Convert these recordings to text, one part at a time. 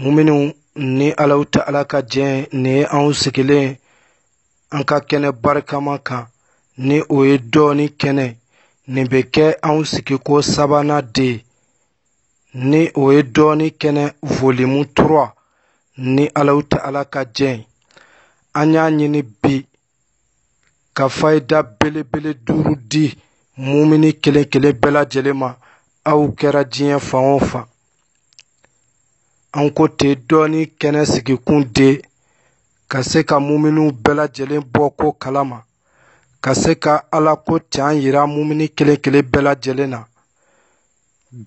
muminiw ni alaw ta ala ka diɲɛ nin ye anw sigilen an ka kɛnɛ barikama kan ni o ye dɔnni kɛnɛ nin bɛ kɛ anw sigiko sabanan de ni o ye dɔnni kɛnɛ volume trois ni alaw ta ala ka diɲɛ an y'a ɲini bi ka fayida belebele duuru di mumini kelen kelen bɛɛ lajɛlen ma aw kɛra diɲɛ fan o fan an ko ten dɔnni kɛnɛ sigikun de ka se ka muminiw bɛɛ lajɛlen bɔ ko kalama ka se ka ala ko can yira mumini kelen kelen bɛɛ lajɛlen na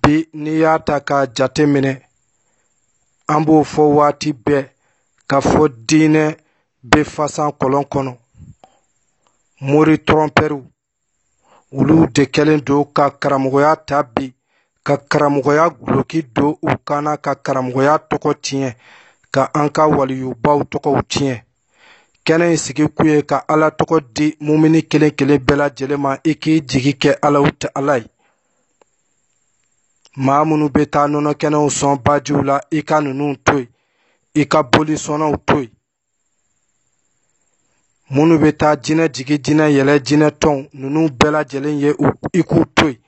bi n'i y'a ta k'a jate minɛ an b'o fɔ waati bɛɛ k'a fɔ diinɛ bɛ fasan kɔlɔn kɔnɔ mori tɔrɔnpɛriw olu de kɛlen don ka karamɔgɔya ta bi ka karamɔgɔya guloki don u kan na ka karamɔgɔya tɔgɔ tiɲɛ ka an ka waliyubaw tɔgɔw tiɲɛ kɛnɛ in sigi kun ye ka ala tɔgɔ di mumini kelen kelen bɛɛ lajɛlen ma i k'i jigi kɛ alaw ta ala ye maa minnu bɛ taa nɔnɔ kɛnɛw sɔn bajiw la i ka ninnu to yen i ka boli sɔnnaw to yen minnu bɛ taa jinɛ jigin jinɛ yɛlɛn jinɛ tɔnw ninnu bɛɛ lajɛlen ye i k'u to yen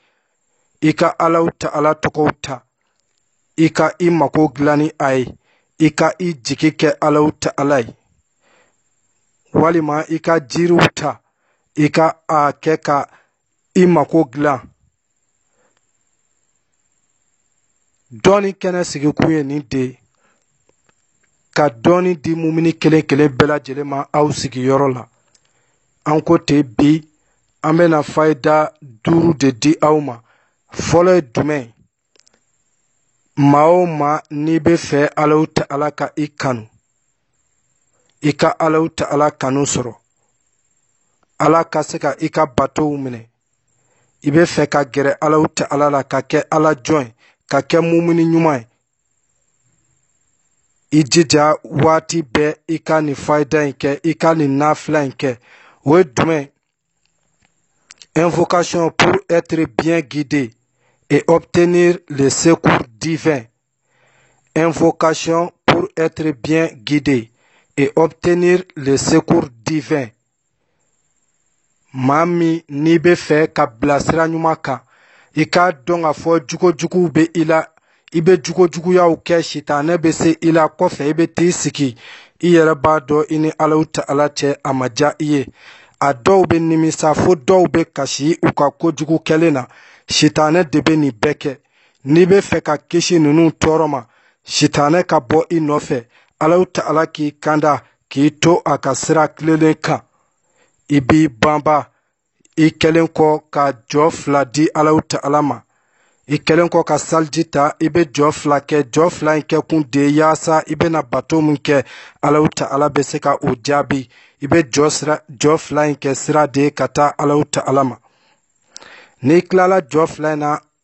i ka alaw ta ala tɔgɔw ta i ka i mako dilan ni a ye i ka i jigi kɛ alaw ta ala ye walima i ka jiriw ta i ka a kɛ ka i mako dilan dɔnni kɛnɛ sigikun ye nin de ka dɔnni di mumini kelen kelen bɛɛ lajɛlen ma aw sigiyɔrɔ la an ko ten bi an bɛna fayida duuru de di aw ma fɔlɔ ye jumɛn maa o maa n'i bɛ fɛ alaw ta ala ka i kanu i ka alaw ta ala kanu sɔrɔ ala ka se ka i ka batow minɛ i bɛ fɛ ka gɛrɛ alaw ta ala la ka kɛ ala jɔn ye ka kɛ mumini ɲuman ye i jija waati bɛɛ i ka nin fayida in kɛ i ka nin nafila in kɛ o ye jumɛn Invocation pour être bien guidé et obtenir le secours divin. Invocation pour être bien guidé et obtenir le secours divin. maa min n'i bɛ fɛ ka bila sira ɲuman kan i k'a dɔn k'a fɔ jogo juguw bɛ i la i bɛ jugujuguyaw kɛ sitanɛ bɛ se i la kɔfɛ i bɛ t'i sigi i yɛrɛ b'a dɔn i ni alahu ta'ala cɛ a ma diya i ye a dɔw bɛ nimisa fo dɔw bɛ kasi u ka kojugu kɛlen na sitanɛ de bɛ nin bɛɛ kɛ n'i bɛ fɛ ka kisi ninnu tɔɔrɔ ma sitanɛ ka bɔ i nɔfɛ alahu ta'ala k'i kanda k'i to a ka sira tilelen kan i b'i banba i kɛlen kɔ ka jɔ fila di alahu ta'ala ma i kɛlen kɔ ka saliji ta i bɛ jɔ fila kɛ jɔ fila in kɛ kun de yaasa i bɛna bato min kɛ alahu ta'ala bɛ se ka o jaabi i bɛ jɔ fila in kɛ sira de ka taa alahu ta'ala ma n'i tilala jɔ fila in na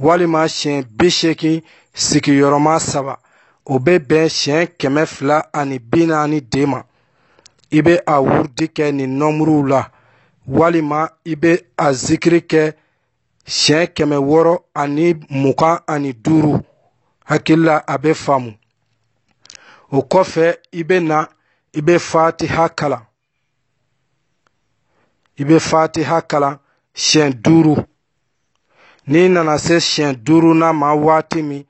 walima siɲɛ bi seegin sigiyɔrɔma saba o bɛ bɛn siɲɛ kɛmɛ fila ani bi naani de ma i bɛ a wurudi kɛ nin nɔmuruw la walima i bɛ a zikiri kɛ siɲɛ kɛmɛ wɔɔrɔ ani mugan ani duuru hakili la a bɛ faamu o kɔfɛ i bɛ na i bɛ fatiha kalan i bɛ fatiha kalan siɲɛ duuru n'i nana se siɲɛ duurunan ma waati min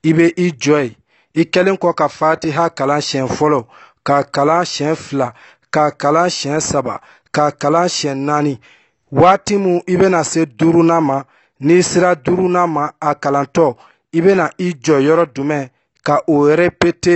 i bɛ i jɔ yen i kɛlen kɔ ka fatiha kalan siɲɛ fɔlɔ ka kalan siɲɛ fila ka kalan siɲɛ saba ka kalan siɲɛ naani waati min i bɛna se duurunan ma n'i sera duurunan ma a kalantɔ i bɛna i jɔ yɔrɔ jumɛn ka o repete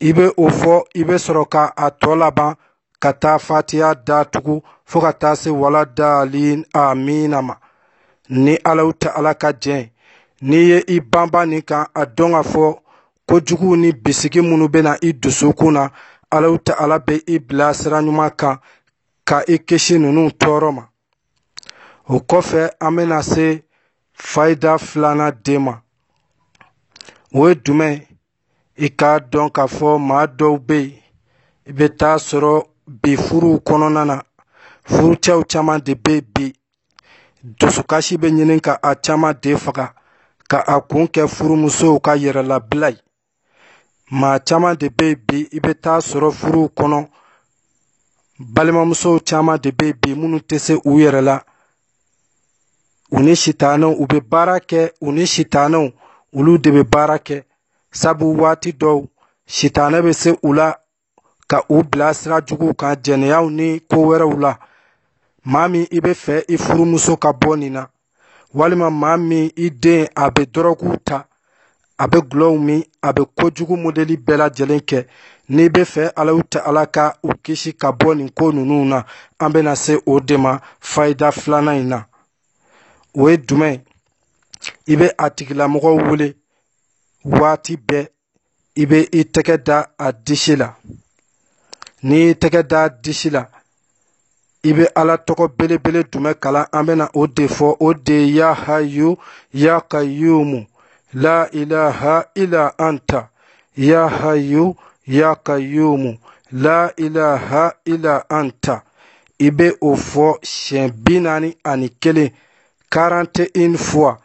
i bɛ o fɔ i bɛ sɔrɔ ka a tɔ laban ka taa fatiha datugu fo ka taa se wala dalin amina ma ni alahu ta'ala ka jɛn n'i ye i banban nin kan a dɔn k'a fɔ kojugu ni bisigi minnu bɛ na i dusukun na alahu ta'ala bɛ i bila sira ɲuman kan ka i kisi ninnu tɔɔrɔ ma o kɔfɛ an bɛna se fayida filanan de ma o ye jumɛn ye i k'a dɔn k'a fɔ maa dɔw bɛ yen i bɛ taa sɔrɔ bi furuw kɔnɔna na furucɛw caman de bɛ bi dusukasi bɛ ɲini ka a caman de faga ka a kun kɛ furumusow ka yɛrɛlabila ye maa caman de bɛ bi i bɛ taa sɔrɔ furuw kɔnɔ balimamusow caman de bɛ bi minnu tɛ se u yɛrɛ la u ni sitanɛw u bɛ baara kɛ u ni sitanɛw olu de bɛ baara kɛ sabu waati dɔw sitanɛ bɛ se u la ka u bila sira juguw kan jɛnɛyaw ni ko wɛrɛw la maa min i bɛ fɛ i furumuso ka bɔ nin na walima maa min i den a bɛ dɔrɔguw ta a bɛ gulɔw min a bɛ kojugu modeli bɛɛ lajɛlen kɛ n'i bɛ fɛ alahu ta'ala ka u kisi ka bɔ nin ko ninnu na an bɛna se o de ma fayida filanan in na o ye jumɛn i bɛ a tigilamɔgɔ wele waati bɛɛ i bɛ i tɛgɛ da a disi la n'i y'i tɛgɛ da a disi la i bɛ ala tɔgɔ belebele jumɛn kalan an bɛna o de fɔ o de ye ya hayu ya kayumu la ilaha ila anta ya hayu ya kayumu la ilaha ila anta i bɛ o fɔ siɲɛ bi naani ani kelen quarante et une fois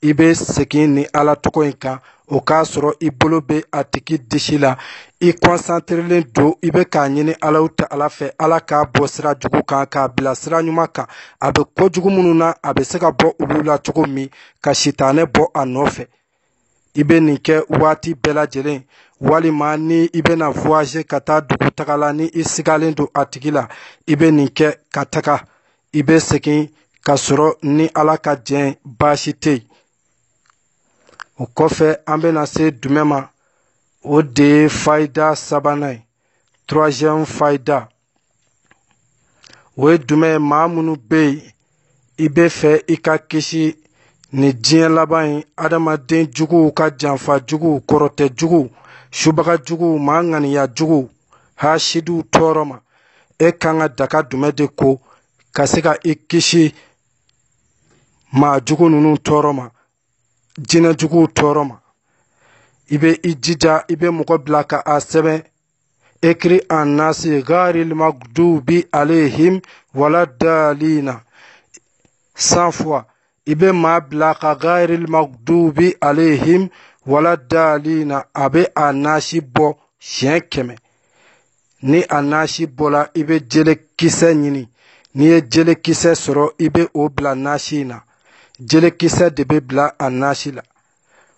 i bɛ segin nin ala tɔgɔ in kan o k'a sɔrɔ i bolo bɛ a tigi disi la i concentrélen don i bɛ k'a ɲini alahu ta'ala fɛ ala k'a bɔ sira jugu kan k'a bila sira ɲuman kan a bɛ kojugu minnu na a bɛ se ka bɔ olu la cogo min ka sitanɛ bɔ a nɔfɛ i bɛ nin kɛ waati bɛɛ lajɛlen walima ni i bɛna voyager ka taa dugu taga la ni i sigalen don a tigi la i bɛ nin kɛ ka taga i bɛ segin ka sɔrɔ ni ala ka jɛn baasi tɛ yen o kɔfɛ an bɛna se dumɛ ma o de ye fayida sabanan ye troisième fayida o ye dumɛ ye maa minnu bɛ yen i bɛ fɛ i ka kisi nin diɲɛ laban in adamaden juguw ka janfa juguw kɔrɔtɛ juguw subaga juguw maa ŋaniya juguw hasidiw tɔɔrɔ ma e kan ka daga dumɛ de ko ka se ka i kisi maa jugu ninnu tɔɔrɔ ma jinɛ juguw tɔɔrɔ ma i bɛ i jija i bɛ mɔgɔ bila ka a sɛbɛn écrit en nasi gairil magdubi alayhim wala dalina cent fois i bɛ maa bila ka gairil magdubi alayhim wala dalina a bɛ a nasi bɔ siɲɛ kɛmɛ ni a nasi bɔla i bɛ jele kisɛ ɲini n'i ye jele kisɛ sɔrɔ i bɛ o bila nasi in na jele kisɛ de bɛ bila a nasi la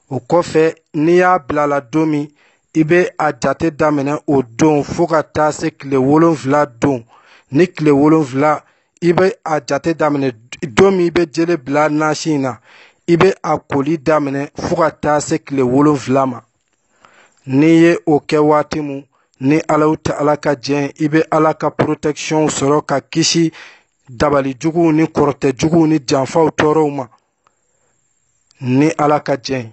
o kɔfɛ n'i y'a bila a la don min i bɛ a jate daminɛ o don fo ka taa se tile wolonfila don ni tile wolonfila i bɛ a jate daminɛ don min i bɛ jele bila nasi in na i bɛ a koli daminɛ fo ka taa se tile wolonfila ma n'i ye o kɛ waati min ni alahu ta'ala ka jɛn i bɛ ala ka protection sɔrɔ ka kisi dabali juguw ni kɔrɔtɛ juguw ni janfaw tɔɔrɔw ma ni ala ka jɛn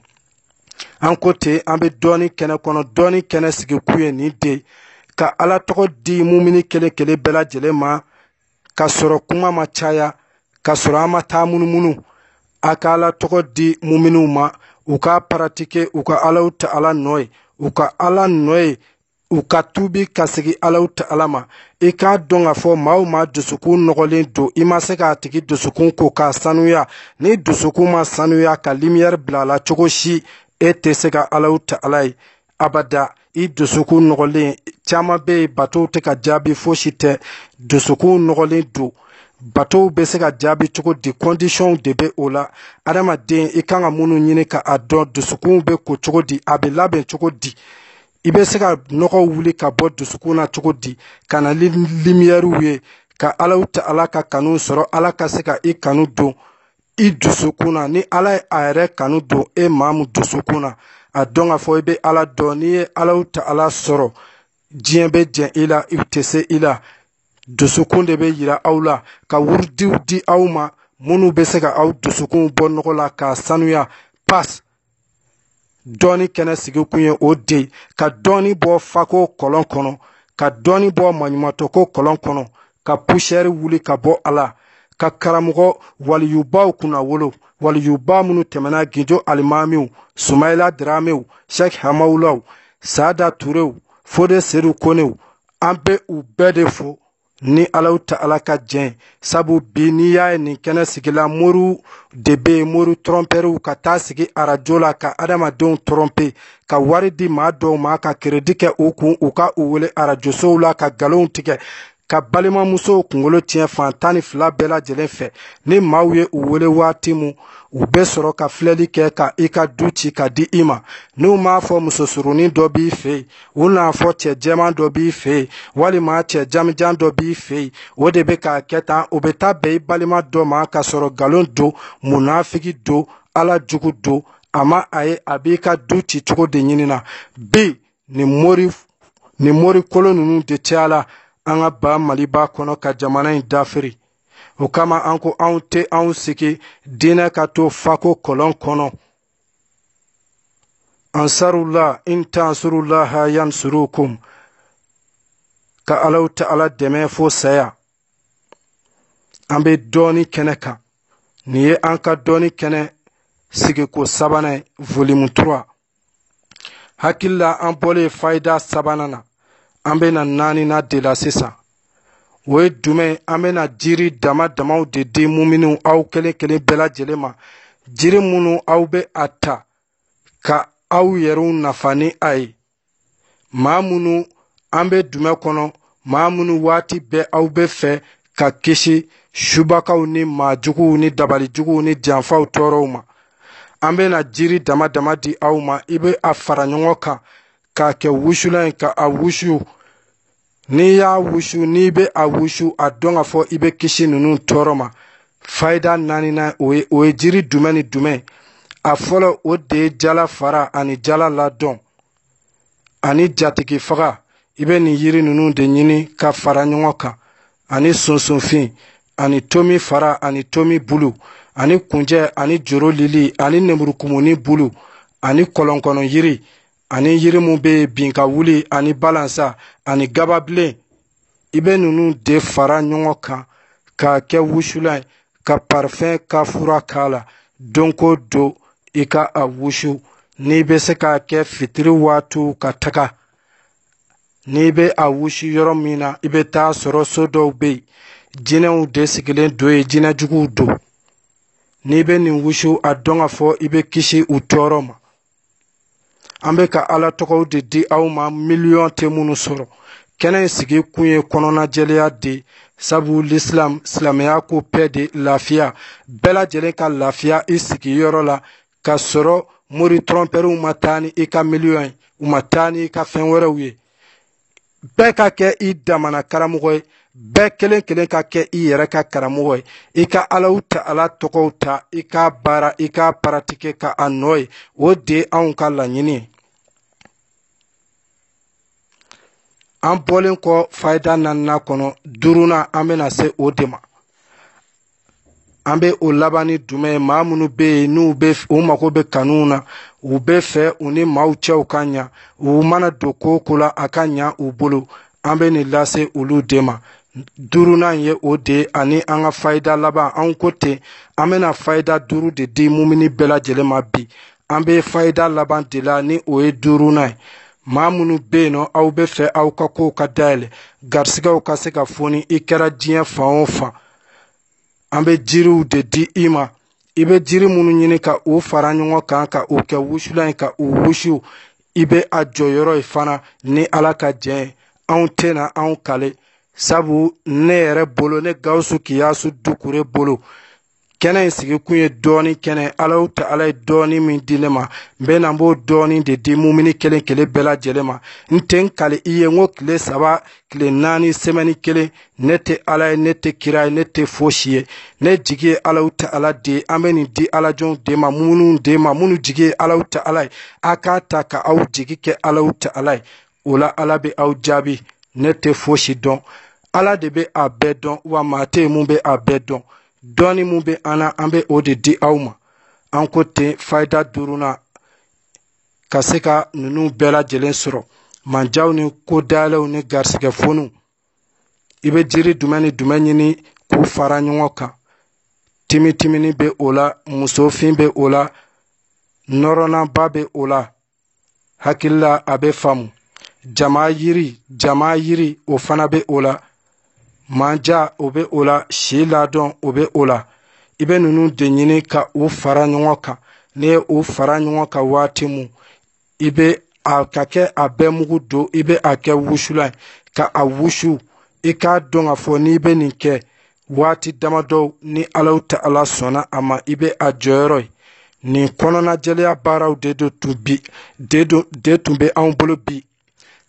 an ko ten an bɛ dɔɔni kɛnɛ kɔnɔ dɔɔni kɛnɛ sigi kun ye nin de ka ala tɔgɔ di mumini kelen kelen bɛɛ lajɛlen ma ka sɔrɔ kuma ma caya ka sɔrɔ an ma taa munumunu a ka ala tɔgɔ di muminiw ma u ka paratike u ka alahu taala nɔ ye u ka ala nɔ ye u ka tuubi ka segin alahu taala ma i k'a dɔn k'a fɔ maa o maa dusukun nɔgɔlen don i ma se k'a tigi dusukun ko k'a sanuya ni dusukun ma sanuya ka limiyɛri bila a la cogo si e tɛ se ka alahu taala ye abada i dusukun nɔgɔlen caman bɛ yen batow tɛ ka jaabi fosi tɛ dusukun nɔgɔlen don batow bɛ se ka jaabi cogo di kɔndisɔnw de bɛ o la adamaden i kan ka minnu ɲini ka a dɔn dusukunw bɛ ko cogo di a bɛ labɛn cogo di i bɛ se ka nɔgɔ wuli ka bɔ dusukun na cogo di ka na ni limiyɛriw ye ka alahu taala ka kanu sɔrɔ ala ka se ka i kanu don i dusukun na ni ala ye a yɛrɛ kanu don e maa min dusukun na a dɔn k'a fɔ i bɛ ala dɔn n'i ye alahu taala sɔrɔ diɲɛ bɛ jɛn i la i tɛ se i la dusukun de bɛ yira aw la ka wuridiw di aw ma minnu bɛ se ka aw dusukun bɔ nɔgɔ la k'a sanuya pas dɔɔni kɛnɛ sigi kun ye o de ka dɔɔni bɔ fako kɔlɔn kɔnɔ ka dɔɔni bɔ maɲumatɔko kɔlɔn kɔnɔ ka pusiyɛri wuli ka bɔ a la ka karamɔgɔ waliyubaw kunnawolo waliyuba minnu tɛmɛna gindo alimamiw sumayila diramew shɛk hamawulaw saada turew fode sedu konew an bɛ u bɛɛ de fo ni alahu taala ka jɛn sabu bi n'i y'a ye nin kɛnɛ sigila moriw de bɛ yen mori tɔrɔnpɛriw ka taa sigi arajo la ka adamadenw tɔrɔnpe ka wari di maa dɔw ma ka keredi kɛ u kun u ka u wele arajosow la ka nkalonw tigɛ ka balimamusow kunkolo tiɲɛ fan tan ni fila bɛɛ lajɛlen fɛ ni maaw ye u wele waati min u bɛ sɔrɔ ka filɛli kɛ ka i ka du ci ka di i ma n'u m'a fɔ musosurunin dɔ b'i fɛ yen u n'a fɔ cɛ jɛman dɔ b'i fɛ yen walima cɛ janmijan dɔ b'i fɛ yen o de bɛ k'a kɛ tan o bɛ taa bɛn i balima dɔ ma ka sɔrɔ nkalon don munafiki don ala jugu don a ma a ye a b'i ka du ci cogo de ɲini na bi nin mori kolon ninnu de cayala an ka ba maliba kɔnɔ ka jamana in dafiri o kama an ko anw tɛ anw sigi diinɛ ka to fako kɔlɔn kɔnɔ ansarullah in tansurullah yansurukum ka alahu taala dɛmɛ fo saya an bɛ dɔɔni kɛnɛ kan nin ye an ka dɔɔni kɛnɛ sigiko sabanan ye volume 3 hakili la an bɔlen fayida sabanan na an bɛna naaninan de la sisan o ye jumɛn an bɛna jiri dama damaw de di muminiw aw kelen kelen bɛɛ lajɛlen ma jiri minnu aw bɛ a ta ka aw yɛrɛw nafa ni a ye maa minnu an bɛ dumɛn kɔnɔ maa minnu waati bɛɛ aw bɛ fɛ ka kisi subakaw ni maajuguw ni dabalijuguw ni janfaw tɔɔrɔw ma an bɛna jiri dama dama di aw ma i bɛ a fara ɲɔgɔn kan k'a kɛ wusulan ye ka a wusu n'i y'a wusu n'i bɛ a wusu a dɔn k'a fɔ i bɛ kisi ninnu tɔɔrɔ ma fayida naaninan o ye o ye jiri dumɛn ni dumɛn a fɔlɔ o de ye jala fara ani jala ladɔn ani jatigifaga i bɛ nin yiri ninnu de ɲini ka fara ɲɔgɔn kan ani sunsunfin ani tomi fara ani tomi bulu ani kunjɛ ani joro lili ani nemurukumuni bulu ani kɔlɔnkɔnɔ yiri ani yiri min bɛ bin ka wuli ani balansan ani gababilen i bɛ ninnu de fara ɲɔgɔn kan k'a kɛ wusulan ye ka parifɛn kafura k'a la don ko don i ka a wusu n'i bɛ se k'a kɛ fitiri waatiw ka taga n'i bɛ a wusu yɔrɔ min na i bɛ taa sɔrɔ so dɔw bɛ yen jinɛw de sigilen don yen jinɛ juguw don n'i bɛ nin wusu a dɔn k'a fɔ i bɛ kisi u tɔɔrɔ ma an bɛ ka ala tɔgɔw de di aw ma miliyɔn tɛ minnu sɔrɔ kɛnɛ in sigi kun ye kɔnɔnajɛlenya de sabu lisilam silamɛya ko pɛ de lafiya bɛɛ lajɛlen ka lafiya i sigiyɔrɔ la ka sɔrɔ mori tɔrɔnpɛriw ma taa ni i ka miliyɔn ye u ma taa ni i ka fɛn wɛrɛw ye bɛɛ ka kɛ i damana karamɔgɔ ye bɛɛ kelen kelen ka kɛ i yɛrɛ ka karamɔgɔ ye i ka alaw ta ala tɔgɔw ta i ka baara i ka paratike ka a nɔ ye o de ye anw ka laɲini ye an bɔlen kɔ fayida naaninan kɔnɔ duurunan an bɛna se o de ma an bɛ o laban ni dumɛn ye maa minnu bɛ yen n'u bɛ u mago bɛ kanuw na u bɛ fɛ u ni maaw cɛw ka ɲa u mana don ko o ko la a ka ɲa u bolo an bɛ nin lase olu de ma duurunan ye o de ye ani an ka fayida laban anw ko ten an bɛna fayida duuru de di mumini bɛɛ lajɛlen ma bi an bɛ fayida laban de la ni o ye duurunan ye maa minnu bɛ yen nɔ aw bɛ fɛ aw ka kow ka dayɛlɛ garisigɛw ka se ka foni i kɛra diɲɛ fan o fan an bɛ jiriw de di i ma i bɛ jiri minnu ɲini ka u fara ɲɔgɔn kan ka u kɛ wusulan ye ka u wusu i bɛ a jɔyɔrɔ ye fana ni ala ka jɛn ye anw tɛna anw kali sabu ne yɛrɛ bolo ne gawusu kiyasu dukure bolo kɛnɛ in sigikun ye dɔɔni kɛnɛ alahu ta'ala ye dɔɔni min di ne ma n bɛ na n b'o dɔɔni de di mumini kelen kelen bɛɛ lajɛlen ma n tɛ n kali i ye n ko tile saba tile naani semɛni kelen ne tɛ ala ye ne tɛ kira ye ne tɛ fosi ye ne jigi ye alahu ta'ala de ye an bɛ nin di alajɔnw de ma minnu de ma minnu jigi ye alahu ta'ala ye a k'a ta ka aw jigi kɛ alahu ta'ala ye o la ala bɛ aw jaabi ne tɛ fosi dɔn ala de bɛ a bɛɛ dɔn wa maa tɛ yen mun bɛ a bɛɛ dɔn dɔɔni mun bɛ an na an bɛ o de di aw ma an ko ten fayida duurunan ka se ka ninnu bɛɛ lajɛlen sɔrɔ manjaw ni ko dayɛlɛw ni garisigɛ foniw i bɛ jiri jumɛn ni jumɛn ɲini k'u fara ɲɔgɔn kan timitimini bɛ o la musofin bɛ o la nɔrɔnanba bɛ o la hakilila a bɛ faamu jama yiri jama yiri o fana bɛ o la manja o bɛ o la si ladon o bɛ o la i bɛ ninnu de ɲini ka u fara ɲɔgɔn kan n'i ye u fara ɲɔgɔn kan waati mun i bɛ a ka kɛ a bɛɛ mugu don i bɛ a kɛ wusulan ye ka a wusu i k'a dɔn k'a fɔ n'i bɛ nin kɛ waati damadɔ ni alahu ta'ala sɔnna a ma i bɛ a jɔyɔrɔ ye nin kɔnɔnajɛlenya baaraw de tun bɛ anw bolo bi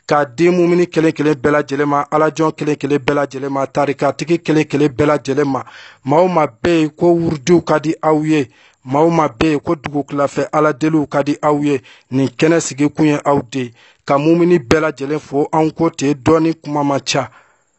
k'a di mumini kelen kelen bɛɛ lajɛlen ma alajɔn kelen kelen bɛɛ lajɛlen ma tarikatigi kelen kelen bɛɛ lajɛlen ma maa o maa bɛ yen ko wurudiw ka di aw ye maa o maa bɛ yen ko dugutilafɛ aladeliw ka di aw ye nin kɛnɛ sigikun ye aw de ye ka mumini bɛɛ lajɛlen fo anw ko ten dɔɔni kuma man ca